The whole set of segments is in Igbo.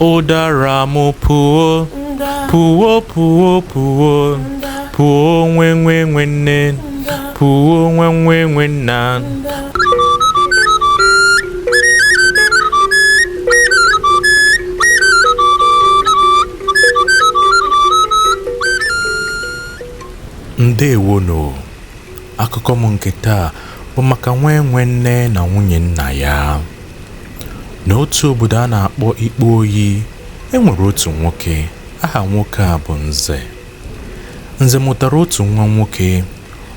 ụdara m puo puo puo puo puo nwa enwe nne puo nwa enwe nna ndewonu akụkọ m nke taa bụ maka nwa enwe nne na nwunye nna ya N'otu obodo a na-akpọ Ikpe Oyi, e nwere otu nwoke. Aha nwoke a bụ Nze. Nze mụtara otu nwa nwoke.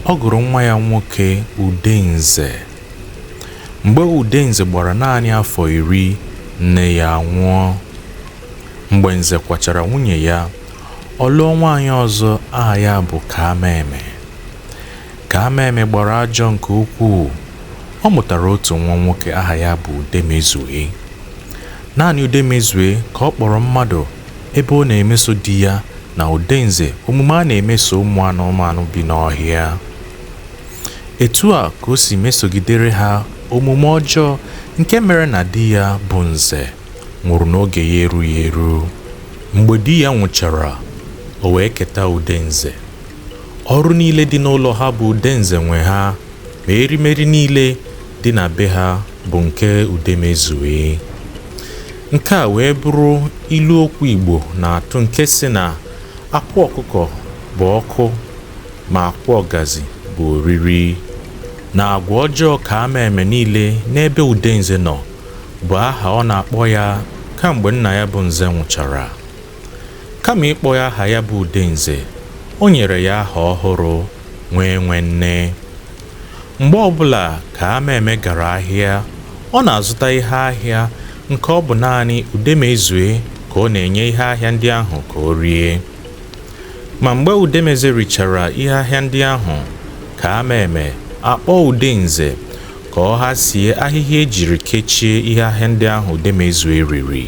Ọ gụrụ nwa ya nwoke Udenze. Mgbe Udenze gbara naanị afọ iri, nne ya anwụọ. Mgbe Nze kwachara nwunye ya, ọ lụọ nwaanyị ọzọ aha ya bụ Kaamaeme. Kaamaeme gbara ajọ nke ukwuu, ọ mụtara otu nwa nwoke aha ya bụ Udemezue. Naanị Udemezue ka ọ kpọrọ mmadụ ebe ọ na-emeso di ya na Udenze omume a na-emeso ụmụ anụmanụ bi n'ọhịa. Etu a ka o si mesogidere ha omume ọjọọ nke mere na di ya bụ Nze nwụrụ n'oge ya erughị eru. Mgbe di ya nwụchara, o wee keta Udenze. Ọrụ niile dị n'ụlọ ha bụ Udenze nwe ha, ma erimeri niile dị na be ha bụ nke Udemezue. Nke a wee bụrụ ilu okwu Igbo na-atụ nke sị na akwa ọkụkọ bụ ọkụ ma akwa ọgazi bụ oriri, na agwa ọjọọ Kaamaeme niile n'ebe Udenze nọ bụ aha ọ na-akpọ ya kamgbe nna ya bụ Nze nwụchara. Kama ịkpọ ya aha ya bụ Udenze, o nyere ya aha ọhụrụ Nwa Enwe Nne. Mgbe ọbụla Kaamaeme gara ahịa, ọ na-azụta ihe ahịa nke ọ bụ naanị Udemezue ka ọ na-enye ihe ahịa ndị ahụ ka o rie. Ma mgbe Udemezue richara ihe ahịa ndị ahụ, Kaamaeme akpọọ Udenze ka ọ hasie ahịhịa e jiri kechie ihe ahịa ndị ahụ Udemezue riri.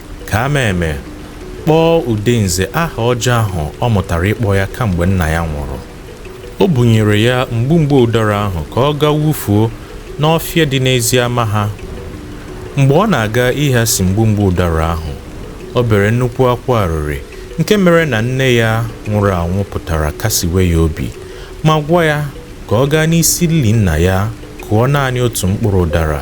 Kaamaeme kpọọ Udenze aha ọjọọ ahụ ọ mụtara ịkpọ ya kamgbe nna ya nwụrụ. O bunyere ya mgbumgbe ụdara ahụ ka ọ gaa wufuo n'ọfịa dị n'ezi ama ha. Mgbe ọ na-aga ịghasi mgbumgbe ụdara ahụ, o bere nnukwu akwa arịrị nke mere na nne ya nwụrụ anwụ pụtara kasiwe ya obi ma gwa ya ka ọ gaa n'isi ili nna ya kụọ naanị otu mkpụrụ ụdara.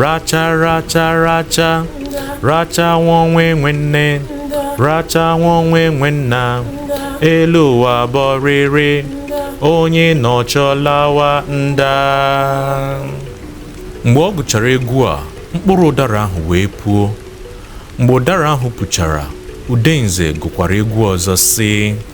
racha racha racha rachanwọ nwa enwe nne rachanwọ nwa enwe nna elu ụwa bụ ọrịrị onye nọchaa ọ lawa nda mgbe ọ gụchara egwu a mkpụrụ ụdara ahụ wee puo mgbe ụdara ahụ puchara udenze gụkwara egwu ọzọ sị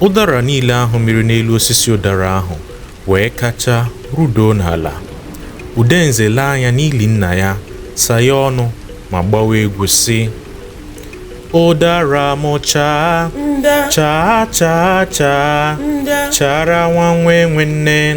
Ụdara niile ahụ mịrị n'elu osisi ụdara ahụ wee kachaa rudoo n'ala. Udenze lee anya n'ili nna ya, saghee ọnụ ma gbawa egwu sị, Ụdara m chaa, chaa chaa chaa, chara nwa nwa enwe nne.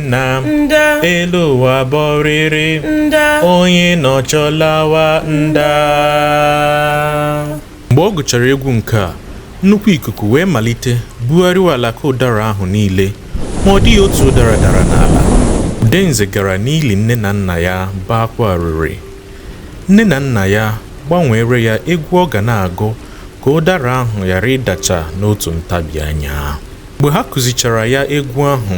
nna nda elu ụwa bụ ọrịrị nda onye nọchaa ọ lawa nda mgbe ọ gụchara egwu nke a nnukwu ikuku wee malite bugharịwa alaka ụdara ahụ niile ma ọ dịghị otu ụdara dara n'ala udenze gara n'ili nne na nna ya baa akwa arịrị nne na nna ya gbanweere ya egwu ọ ga na-agụ ka ụdara ahụ ghara ịdacha n'otu ntabi anya mgbe ha kụzichara ya egwu ahụ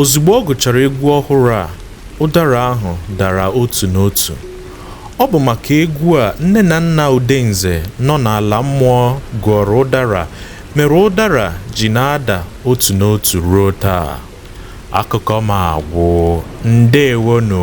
Ozugbo ọ gụchara egwu ọhụrụ a, ụdara ahụ dara otu n'otu. Ọ bụ maka egwu a nne na nna Udenze nọ n'ala mmụọ gụọrọ ụdara mere ụdara ji na-ada otu n'otu ruo taa. Akụkọ m agwụ. Ndeewonụ.